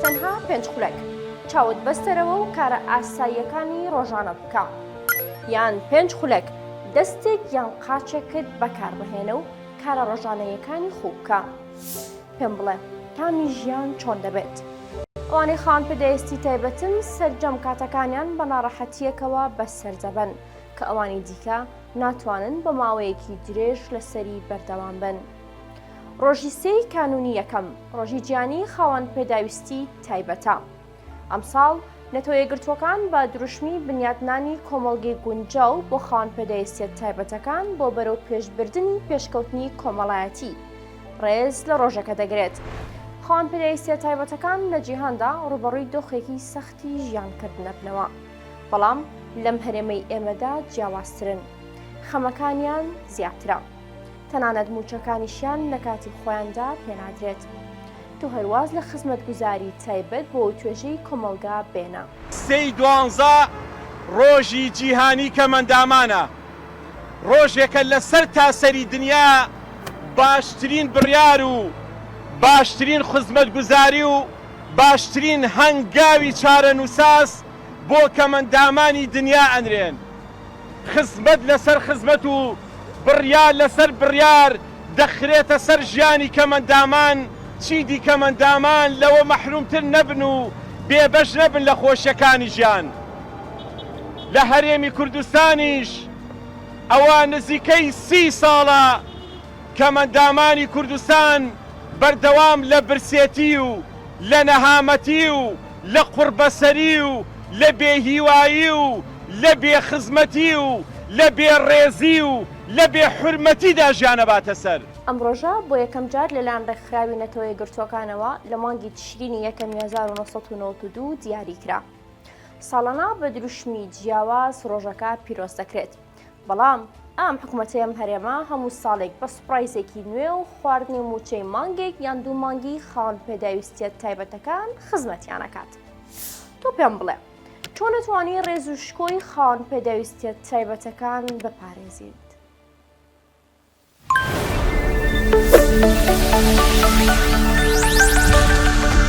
تەنها پێنج خولەک چاوت بەستەرەوە و کارە ئاساییەکانی ڕۆژانە بکە. یان پێنج خولەک دەستێک یان قاچێکت بەکاربهێنە و کارە ڕۆژانەیەکانی خوو بکە. پێم بڵێ تامی ژیان چۆن دەبێت؟ ئەوانەی خاوەن پێدەیستی تایبەتن سەرجەم کاتەکانیان بە ناڕەحەتییەکەوە بەسەر دەبەن کە ئەوانی دیکە ناتوانن بۆ ماوەیەکی درێژ لەسەری بەردەوام بن. ڕۆژی سێی کانونی یەکەم ڕۆژی جیانی خاوەن پێداویستی تایبەتە ئەمساڵ نەتۆیەگرتووەکان بە دروشمی بنیاتنانی کۆمەڵگەی گونجاو بۆ خاوەن پێداویستیت تایبەتەکان بۆ بەرەو پێشبردننی پێشکەوتنی کۆمەڵایەتی ڕێز لە ڕۆژەکە دەگرێت خاوەن پێداویستە تایبەتەکان لە جیهاندا ڕوبەڕووی دۆخێکی سەختی ژیانکردنەبنەوە بەڵام لەم هەرێمەی ئێمەدا جیاوازترن خەمەکانیان زیاترە. تەنانەت مووچەکانیشیان لە کاتی خۆیاندا پێنادرێت. تۆ هەر واز لە خزمەتگوزاری تایبەت بۆ توێژەی کۆمەڵگا بێنە. سێ ی دوانزە ڕۆژی جیهانی کەمەندامانە، ڕۆژێکە لە سەر تاسەری دنیا باشترین بڕیار و باشترین خزمەتگوزاری و باشترین هەنگاوی چارەنوساس بۆ کەمەندامانی دنیا ئەنرێن. خزمەت لەسەر خزمەت و بڕیار لەسەر بڕیار دەخرێتە سەر ژیانی کەمەندامان، چیدی کەمەندامان لەوە مەحرومتر نەبن و بێبەش نەبن لە خۆشیەکانی ژیان. لە هەرێمی کوردستانیش ئەوە نزیکەی سی ساڵە کەمەندامانی کوردستان بەردەوام لە برسێتی و لە نەهامەتی و، لە قوڕبەسەری و لە بێ هیوایی و لە بێ خزمەتی و لە بێ ڕێزی و لە بێ حورمەتیدا ژیان ئەباتە سەر. ئەم ڕۆژە بۆ یەکەم جار لەلایەن ڕێکخراوی نەتەوە یەکگرتووەکانەوە لە مانگی تشرینی یەکەمی هەزار و نۆ سەد و نەوەد و دوو دیاری کرا. ساڵانە بە دروشمی جیاواز ڕۆژەکە پیرۆز دەکرێت. بەڵام ئام حکومەتەی ئەم هەرێمە هەموو ساڵێک بە سوپرایزێکی نوێ و خواردنی موچەی مانگێک یان دوو مانگی خاڵ پێداویستیت تایبەتەکان خزمەتیانەکات تۆ پێم بڵێ چۆنەتوانی ڕێز و شکۆی خاڵ پێداویستیت تایبەتەکان بپارێزیت Thank you.